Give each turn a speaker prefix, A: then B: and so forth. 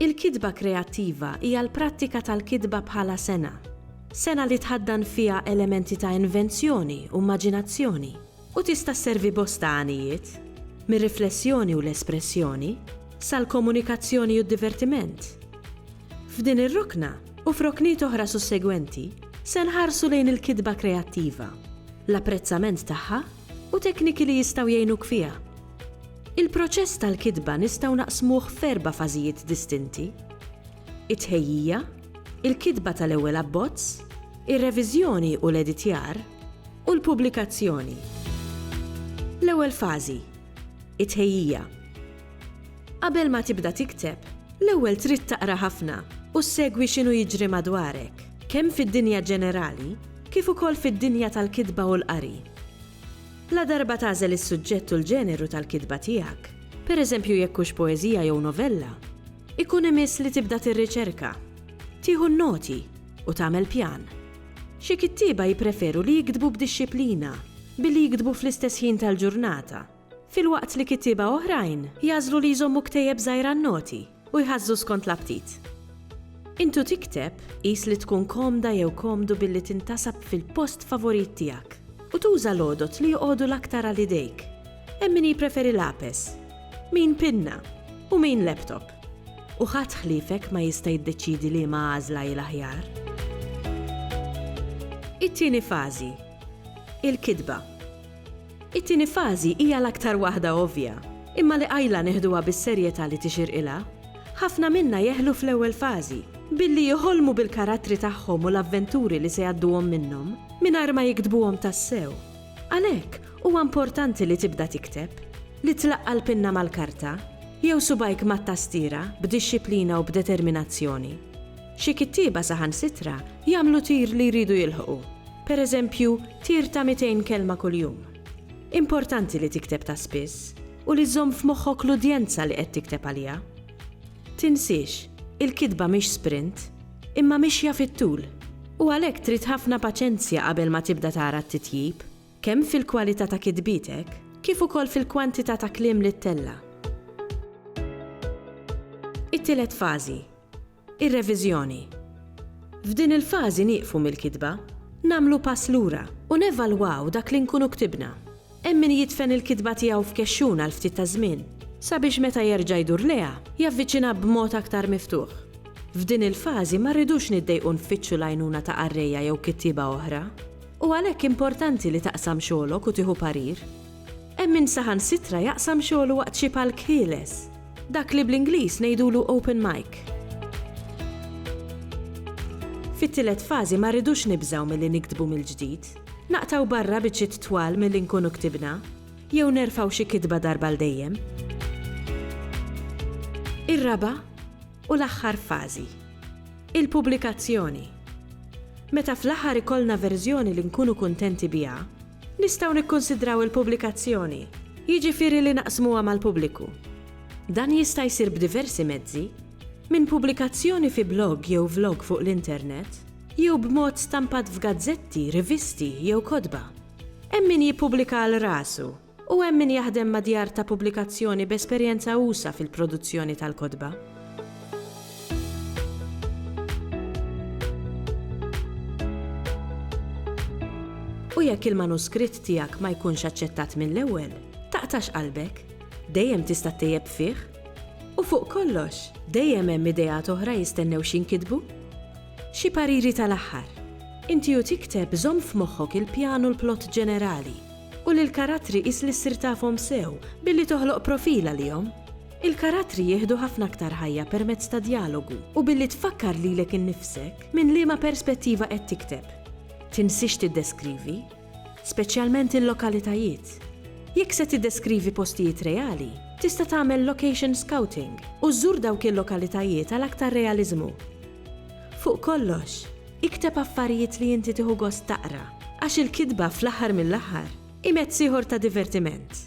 A: Il-kitba kreattiva hija l-prattika tal-kitba bħala sengħa. Sengħa li tħaddan fiha elementi ta' invenzjoni u mmaġinazzjoni u tista' sservi bosta għanijiet, mir-riflessjoni u l-espressjoni, sal-komunikazzjoni u d-divertiment. F'din ir-rokna, u f'rokniet oħra sussegwenti, se nħarsu lejn il-kitba kreattiva, l-apprezzament tagħha u tekniki li jistgħu jgħinuk fiha. Il-proċess tal-kitba nistgħu naqsmuh f'erba' fażijiet distinti, it-tħejjija, il-kitba tal-ewwel abbozz, ir-reviżjoni u l-editjar, u l-pubblikazzjoni. L-ewwel fażi, it-tħejjija. Qabel ma tibda tikteb, l-ewwel trid taqra ħafna u ssegwi x'inhu jiġri madwarek, kemm fid-dinja ġenerali kif ukoll fid-dinja tal-kitba u l-qari. Ladarba tagħżel is-suġġett u l-ġeneru tal-kitba tiegħek, pereżempju jekk hux poeżija jew novella, ikun imiss li tibda tirriċerka, tieħu n-noti u tagħmel pjan. Xi kittieba jippreferu li jiktbu b'dixxiplina billi jiktbu fl-istess ħin tal-ġurnata, filwaqt li kittieba oħrajn jagħżlu li jżommu ktejjeb żgħir għan-noti. u jħażżu skont l-aptit. Intu tikteb, qis li tkun komda jew komdu billi tintasab fil-post favorit tiegħek u tuża l-għodod li joqogħdu l-aktar għal idejk. Hemm min jippreferi lapes, min pinna u min laptop. U ħadd ħliefek ma jista' jiddeċiedi liema għażla hi l-aħjar. It-tieni fażi, il-kitba. It-tieni fażi hija l-aktar waħda ovvja, imma li qajla neħduha bis-serjetà li tixirqilha. Ħafna minna jeħlu fl-ewwel fażi, billi jħolmu bil-karattri tagħhom u l-avventuri li se jgħadduhom minnhom, mingħajr ma jiktbuhom tassew. Għalhekk, huwa importanti li tibda tikteb, li tlaqqa' l-pinna mal-karta, jew subgħajk mat-tastiera, b'dixxiplina u b'determinazzjoni. Xi kittieba saħansitra jagħmlu tir li jridu jilħqu, pereżempju tir ta' 200 kelma kuljum. Importanti li tikteb ta' spiss u li żżomm f'moħħok l-udjenza li qed tikteb għaliha. Tinsiex, il-kitba mhix sprint, imma mixja fit-tul, u għalhekk trid ħafna paċenzja qabel ma tibda tara t-titjib, kemm fil-kwalità ta' kitbietek kif ukoll fil-kwantità ta' kliem li ttella'. It-tielet fażi, Ir-reviżjoni. F'din il-fażi nieqfu mill-kitba, nagħmlu pass lura u nevalwaw dak li nkunu ktibna. Hemm min jidfen il-kitba tiegħu f'kexxun għal ftit taż-żmien, sabiex meta jerġa' jdur lejha, javviċinha b'mod aktar miftuħ. F'din il-fażi ma rridux niddejqu nfittxu l-għajnuna ta' qarrejja jew kittieba oħra. U għalhekk importanti li taqsam xogħlok u tieħu parir. Hemm min saħansitra jaqsam xogħlu waqt xi palk ħieles. Dak li bl-Ingliż ngħidulu open mic. Fit-tielet fażi ma rridux nibżgħu milli niktbu mill-ġdid. Naqtgħu barra biċċiet twal milli nkunu ktibna. Jew nerfgħu xi kitba darba għal dejjem. Ir-raba' u l-aħħar fażi. Il-pubblikazzjoni. Meta fl-aħħar ikollna verżjoni li nkunu kuntenti biha, Nistgħu nikkunsidraw il-pubblikazzjoni, jiġifieri li naqsmuha mal-pubbliku. Dan jista' jsir b'diversi mezzi, minn pubblikazzjoni fi blog jew vlog fuq l-internet, jew b'mod stampat f'gazzetti, rivisti, jew kotba. Hemm min jippubblika għal rasu, u hemm min jaħdem ma' djar ta' pubblikazzjoni b'esperjenza usa' fil-produzzjoni tal-kotba. U jekk il-manuskritt tiegħek ma jkunx aċċettat mill-ewwel, taqtax qalbek. Dejjem tista' ttejjeb fih. U fuq kollox, dejjem hemm ideat oħra jistennew x'inkitbu. Xi pariri tal-aħħar. Inti u tikteb żomm f'moħħok il-pjan u l-plott ġenerali, u lill-karattri qis li ssir tafhom sew billi toħloq profil għalihom. Il-karattri jieħdu ħafna aktar ħajja permezz ta' djalogu u billi tfakkar lilek innifsek minn liema perspettiva qed tikteb. Tinsiex tiddeskrivi, speċjalment il-lokalitajiet. Jekk se tiddeskrivi postijiet reali, tista' tagħmel location scouting u żżur dawk il-lokalitajiet għal aktar realiżmu. Fuq kollox, ikteb affarijiet li inti tieħu gost taqra, għax il-kitba fl-aħħar mill-aħħar hi mezz ieħor ta' divertiment.